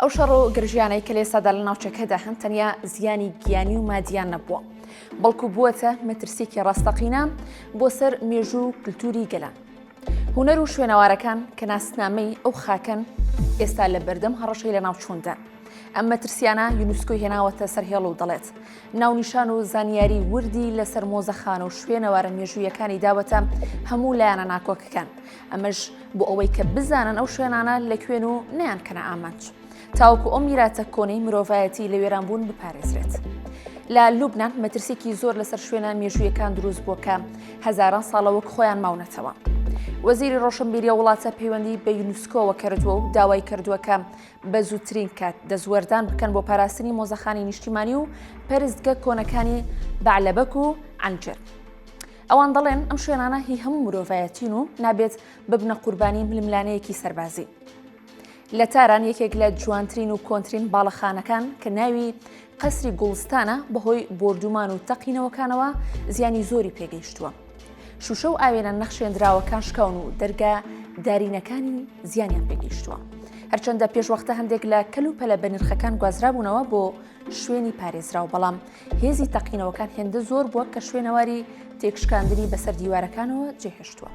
ئەو شەڕ و گرژیانەی کە لێسادا لە ناوچەکەدا هەن تەنیا زیانی گیانی و مادیان نەبووە بەڵکو بووەتە مەترسیکی ڕاستەقینە بۆ سەر مێژوو و کللتوری گەلان هوەر و شوێنەوارەکان کە ناسنامەی ئەو خاکەن ئێستا لە بەردەم هەڕەشەی لە ناوچووندا ئەم مەترسیانە یونسکۆی هێناوەتە سەر هێڵ و دەڵێت ناونیشان و زانیاری وردی لەسەر مۆزەخان و شوێنەوارە مێژوویەکانی داوەتە هەموو لایەنە ناکۆکەکان ئەمەش بۆ ئەوەی کە بزانن ئەو شوێنانە لە کوێن و نیان کەنە ئامانج تاوکو ئەو میراتە کۆنەی مرۆڤایەتی لە وێرانبوون بپارێزرێت. لە لوبناان مەترسێکی زۆر لەسەر شوێنە مێژوویەکان دروست بووە کە هەزاران ساڵەوەک خۆیان ماونەتەوە. وەزیری ڕۆشنبیریە وڵاتە پەیوەندی بە یونسکۆوە کردووە و داوای کردووەکە بە زووترین کات دەستوەردان بکەن بۆ پاراستنی مۆزەخانی نیشتیمانی و پەرستگە کۆنەکانی بەعلەبەک و ئەنجر. ئەوان دەڵێن ئەم شوێنانە هی هەموو مرۆڤایەتین و نابێت ببنە قوربانی ململانەیەکی سەربازی. لە تاران یەکێک لە جوانترین و کۆنترین باڵەخانەکان کە ناوی قەسری گوڵستانە بەهۆی بۆردومان و تەقینەوەکانەوە زیانی زۆری پێگەیشتووە. شوشە و ئاوێنە نەخشێنراوەکان شکاون و دەرگا دارینەکانی زیانیان پێگەیشتووە. هەرچەندە پێشوەختە هەندێک لە کەل و پەلە بەنرخەکان گوازرابوونەوە بۆ شوێنی پارێزراو بەڵام هێزی تەقینەوەکان هێندە زۆر بووە کە شوێنەواری تێکشکاندنی بەسەر دیوارەکانەوە جێهێشتووە.